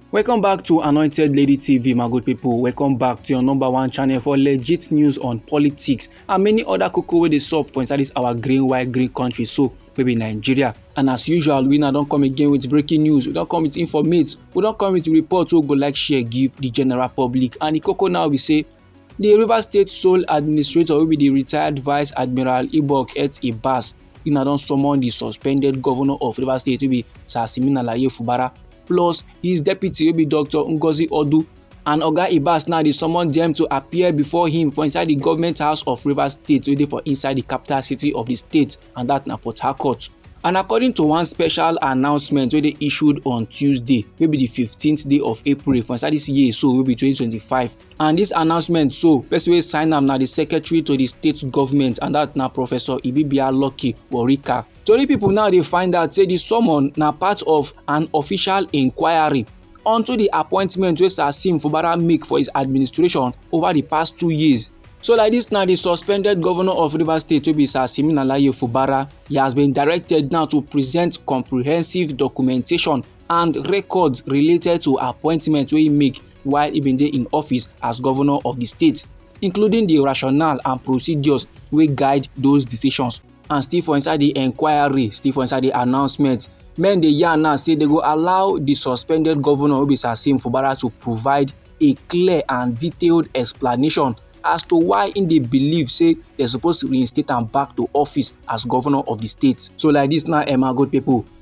welcome back to anointed lady tv my good people welcome back to your number one channel for legit news on politics and many other koko wey dey sup for inside this our green white green country so wey be nigeria and as usual we now don come again with breaking news we don come with informate we don come with report wey go like share give the general public and the koko now be say di rivers state sole administrator wey be di retired vice admiral ibok et ibas una don summon di suspended governor of rivers state wey be sir simeon alaye fubara plus his deputy wey be dr ngozi odu and oga ibas now dey summon dem to appear before him for inside di government house of rivers state wey dey for inside di capital city of di state and dat na port harcourt and according to one special announcement wey dey issued on tuesday wey be di fifteenth day of april for inside dis year so wey be twenty twenty five. And dis announcement so, person wey sign am na di secretary to di state government and dat na Professor Ibibia Lucky Worika. Tori pipo now dey find out say di summon na part of an official inquiry onto di appointment wey Sir Sim Fubara make for his administration over di past two years. So like dis na di suspended governor of Rivers State wey be Sir Siminalayi Fubara, he has been directed now to present comprehensive documentation and records related to appointment wey he make while e bin dey in office as governor of di state including di rationale and procedures wey guide those decisions and still for inside di inquiry still for inside di announcement men dey yarn now say they go allow di suspended governor obi sasim fubara to provide a clear and detailed explanation as to why im dey believe say dem suppose reinstate am back to office as governor of di state so like dis now emma good pipo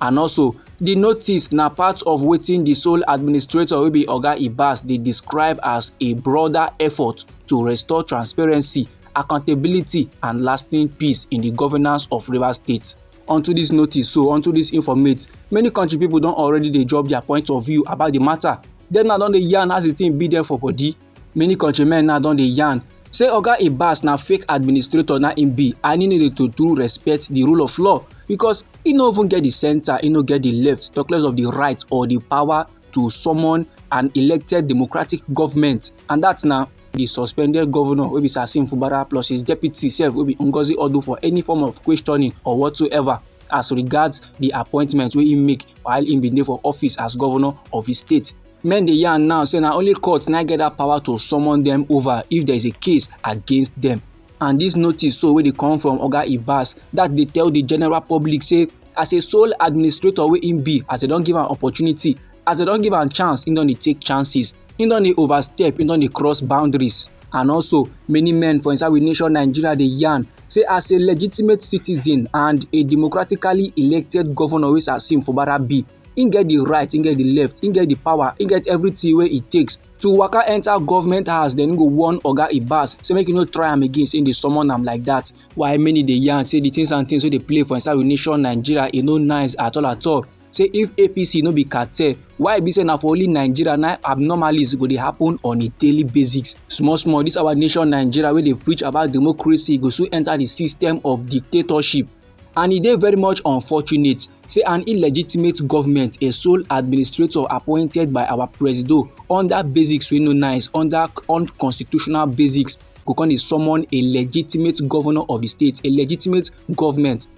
and also di notice na part of wetin di sole administrator wey be oga ibas dey describe as a broader effort to restore transparency accountability and lasting peace in di governance of rivers state onto dis notice so onto dis informate many country pipo don already dey drop dia point of view about di matter dem na don dey yarn as di tin be dem for body many countrymen now don dey yarn say oga ibas na fake administrator na im be and im no dey to do respect di rule of law because e no even get di centre e no get di left talk less of di right or di power to summon an elected democratic government and dat na di suspended governor wey be sasim fubara plus his deputy sef wey be ngozi odu for any form of questioning or whatsoever as regards di appointment wey im make while im bin dey for office as governor of di state Men dey yarn now say na only court na get that power to summon them over if there is a case against them. And this notice so wey dey come from Oga Ibas that dey tell the general public say as a sole administrator wey im be as dem don give am opportunity as dem don give am chance im don dey take chances im don dey overstep im don dey cross boundaries and also many men for inside we nation nigeria dey yarn say as a legitimate citizen and a democratically elected governor wey sir sim fubara be im get di right im get di left im get di power im get everything wey e takes to waka enter government house dem go warn oga ibas say make you no try am again say im dey summon am like that. Why many dey yarn say the things and things wey dey play for inside we nation nigeria e no nice at all at all say if apc no be cartel why e be say na for only nigeria na abnormalities go dey happen on a daily basis small small this our nation nigeria wey dey preach about democracy go soon enter the system of dictatorship and e dey very much unfortunate say an illegitimate government a sole administrator appointed by our presido under basics wey no nice under unconstitutional basics go come dey summon a legitimate governor of the state a legitimate government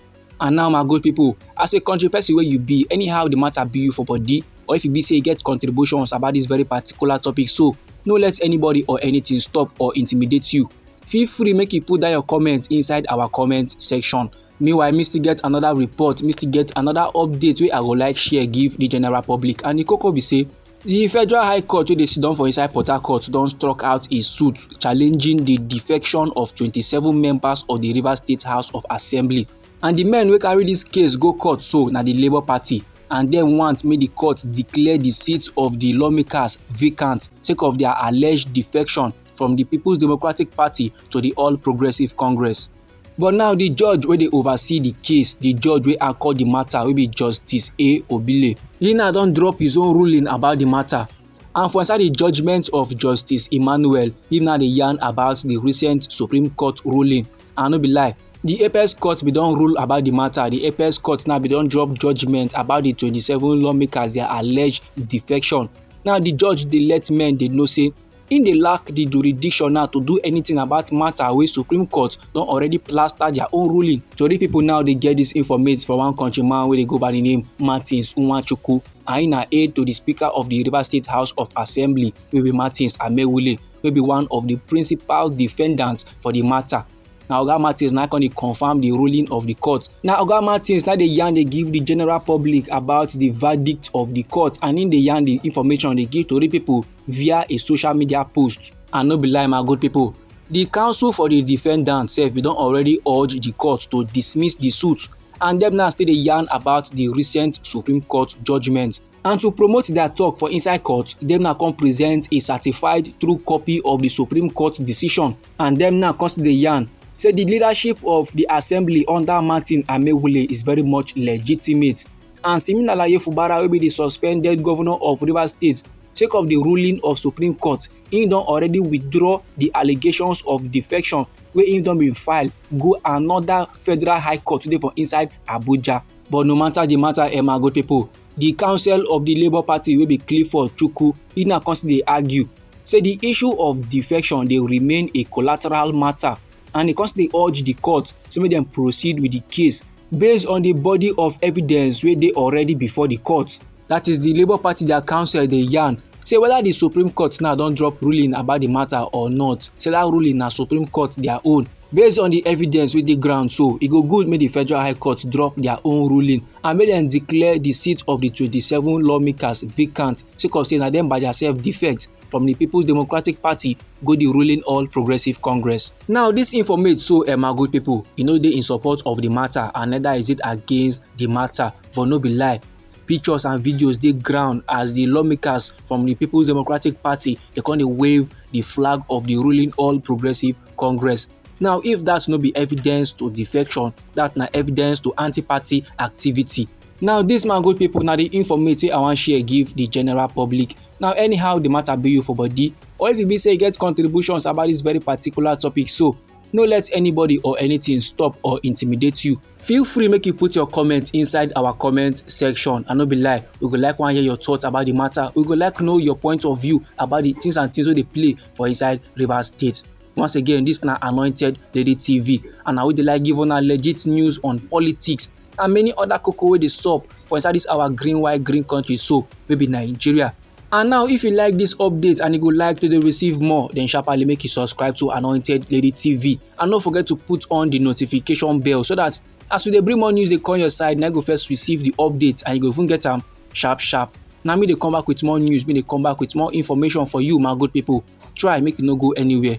and now my good people as a country person wey you be anyhow the matter be you for body or if e be say you get contributions about this very particular topic so no let anybody or anything stop or intimidate you feel free make you put down your comment inside our comment section meanwhile me still get another report me still get another update wey i go like share give the general public and the koko be say di federal high court wey dey sidon for inside port harcourt don struck out a suit challenging di defection of 27 members of di rivers state house of assembly and di men wey carry dis case go court so na di labour party and dem want make di court declare di seat of di lawmakers vacant sake of dia alleged defection from di peoples democratic party to di all progressives congress. but now di judge wey dey oversee di case di judge wey anchor di matter wey be justice a obile he now don drop his own ruling about di matter and for inside di judgement of justice emmanuel he now dey yarn about di recent supreme court ruling and no be lie di apex court bin don rule about di matter di apex court now bin don drop judgement about di 27 lawmakers dia alleged defection now di judge dey let men dey know say Im dey lack di jurisdiction now to do anything about matter wey Supreme Court don already plaster their own ruling. Tori people now dey get dis informate from one country man wey dey go by di name Martins Nwachukwu and im na aide to di Speaker of di Rivers State House of Assembly wey be Martins Amewule wey be one of di principal defendants for di matter. na oga martins na come dey confirm di ruling of di court na oga martins na dey yarn dey give di general public about di verdict of di court and im dey yarn di information dey give tori pipo via a social media post. And no be lie my good people, the counsel for the defendant sef bin don already urge the court to dismiss the suit and dem now still dey yarn about the recent Supreme Court judgement. And to promote their talk for inside court, dem now come present a certified true copy of the Supreme Court decision and dem now come still dey yarn say the leadership of the assembly under Martin Amewule is very much legitimate and Siminalayi Fubara wey be the suspended governor of Rivers State sake of di ruling of supreme court im don already withdraw di allegations of defection wey im don bin file go anoda federal high court today for inside abuja but no matter di matter emma gotepo di council of di labour party wey be clifford chukwu e now come still dey argue say di issue of defection dey remain a collateral matter and e come still dey urge di court say make dem proceed with di case based on di body of evidence wey dey already before di court that is the labour party their council dey yarn say whether the supreme court now don drop ruling about the matter or not say that ruling na supreme court their own based on the evidence wey dey ground so e go good make the federal high court drop their own ruling and make dem declare the seat of the twenty-seven lawmakers vacant sake of say na dem by theirself defect from the people's democratic party go the ruling all progressive congress. now this informate so eh my good people e no dey in support of the matter and neither is it against the matter but no be lie pictures and videos dey ground as di lawmakers from di peoples democratic party dey come dey wave di flag of di ruling all progressives congress now if dat no be evidence to defection dat na evidence to anti-party activity now dis man good pipo na di informate wey i wan share give di general public now anyhow di matter be you for body or if e be say you get contributions about dis very particular topic so no let anybody or anything stop or intimidate you Feel free make you put your comment inside our comment section. I no be lie, we go like wan hear your thoughts about the matter. We go like know your point of view about the things and things wey dey play for inside Rivers State. Once again, this na Anointed Lady TV and na we dey like give una legit news on politics and many other koko wey dey sup for inside this our green white green country so wey be Nigeria. And now if you like this update and you go like to dey receive more then sharply make you subscribe to Anointed Lady TV and no forget to put on the notification bell so that as we dey bring more news dey come your side na you go first receive the update and you go even get am sharp sharp. Na me dey come back with more news, me dey come back with more information for you my good people. Try make you no go anywhere.